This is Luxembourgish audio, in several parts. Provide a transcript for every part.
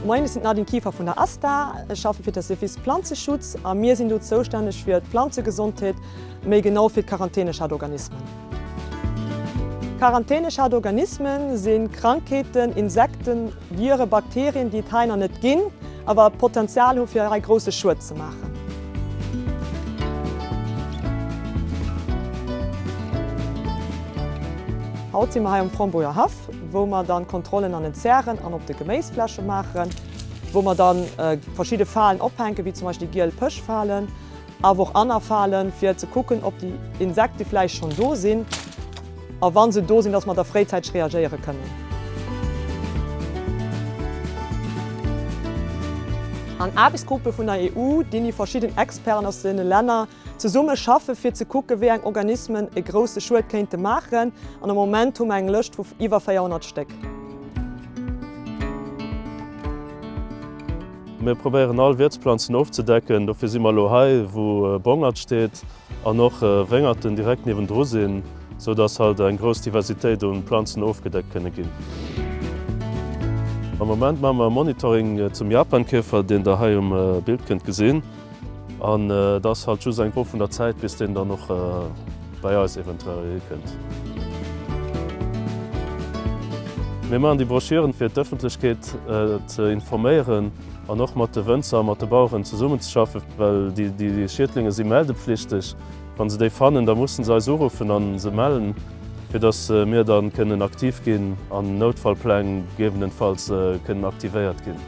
Moien, ech sinn d'Nadine Kieffer vun der ASTA. Ech schaffe fir de Service Planzeschutz a mir sinn do zoustänneg fir d'Planzegesondheet, méi genau fir d'Quarantänechartorganismen. Quarantäneschadorganismen si Krankheeten, Insekten, Viren, Bakterien, déi et hei nach net ginn, awer d'Potenzial hu fir hei grousse Schued ze maachen. Haut si mer hei um Frombunger Haff, wou mer dann Kontrollen an den Zären an op de Geméisfläche maachen, wou mer dann verschidde Falen ophänken, wéi zum Beispill déi giel Pëschfalen, Awer och aner Falen, fir ze kucken, ob déi Insekte vläicht schonn do sinn a wa se do sinn, dass mer da fréizäiteg reagéiere kënnen. An Aarbechtsgruppe vun der EU, déini verschidden Experten aus deene Länner zesumme schaffen, fir ze kucken, wéi eng Organismen e grousse Schued kéinte maachen. An am Moment hu mer eng Lëscht vu iwwer 400 Stéck. Mir probéieren all Wiertsplanzen ofzedecken, dofir si mer elo hei wou Bongert steet an och Wéngerten direkt niewendru sinn, sou datt halt eng grouss Diversitéit u Planzen ofgedeckt kënne ginn. Am Moment maache mer e Monitoring zum Japankäfer, deen der hei um Bild kënnt gesinn. An et ass halt just eng Fro vun der Zäit bis deen dann och bei eis eventuell erikënnt. Mir maachen déi Broschüren fir d'Ëffentlechkeet ze informéieren an och mat de Wënzer a mat de Baueren zesummenzeschaffen, well déi Schiedlinge si meldepflichteg. Wa se déi fannen, da musse se eis uruffen a se mellen. fir dass mir dann kënnen aktiv ginn an Noutfallpläng gegebenenfalls kënnen aktivéiert ginn.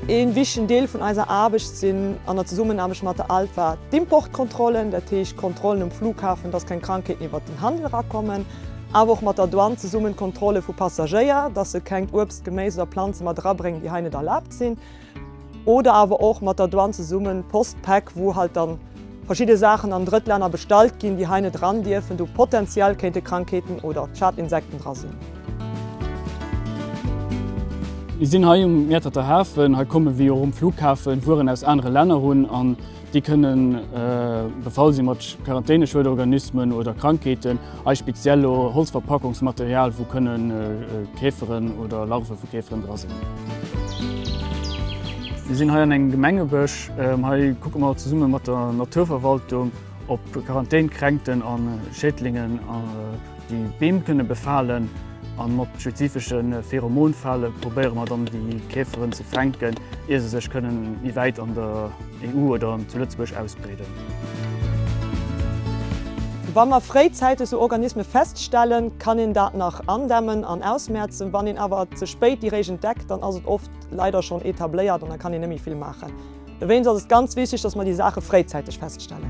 Een wichtegen Deel vun eiser Aarbecht sinn, an der Zesummenaarbecht mat der ALPHA, d'Importkontrollen, dat heescht Kontrollen um Flughafen, dass keng Krankheeten iwwert den Handel erakommen, awer och mat der Douane zesummen d'Kontrolle vu Passagéier, dass se kengt Uebst, Geméis oder Planze mat erabréngen, déi hei net erlaabt sinn. Oder awer och mat der Douane zesummen Post-Päck, wou halt dann verschidde Saachen an Drëttlänner bestallt ginn, déi hei net eran dierfen, do potentiell kéinte Krankheeten oder Schadinsekten dra sinn. Mir sinn hei um Mäerterter Hafen. Hei komme wéi och um Flughafen Wueren aus anere Länner un. Déi kënne befall si mat Quarantäneschuedorganismen oder Krankheeten, hei speziell elo Holzverpackungsmaterial, wou kënne Käferen oder Larve vu Käferen dra sinn. Mir sinn hei an engem Gemengebësch. Hei kucke mer zesumme mat der Naturverwaltung, ob Quarantänkränkten a Schädlingen déi Beem kënne befalen. A mat spezifesche Pheromonfale probéiere mer dann déi Käferen ze fänken, ier se sech kënnen méi wäit an der. EU oder zu Lëtzebuerg ausbreeden. Wa mer fréizäiteg sou Organisme feststellen, kann een dat nach andämmen an ausmerzen. Wann een awer ze spéit déi Réischt entdeckt, dann ass et oft leider schonn etabléiert an da kann een net méi vill maachen. Dowéinst ass et ganz wichteg, dass mer déi Saache fréizäiteg feststellen.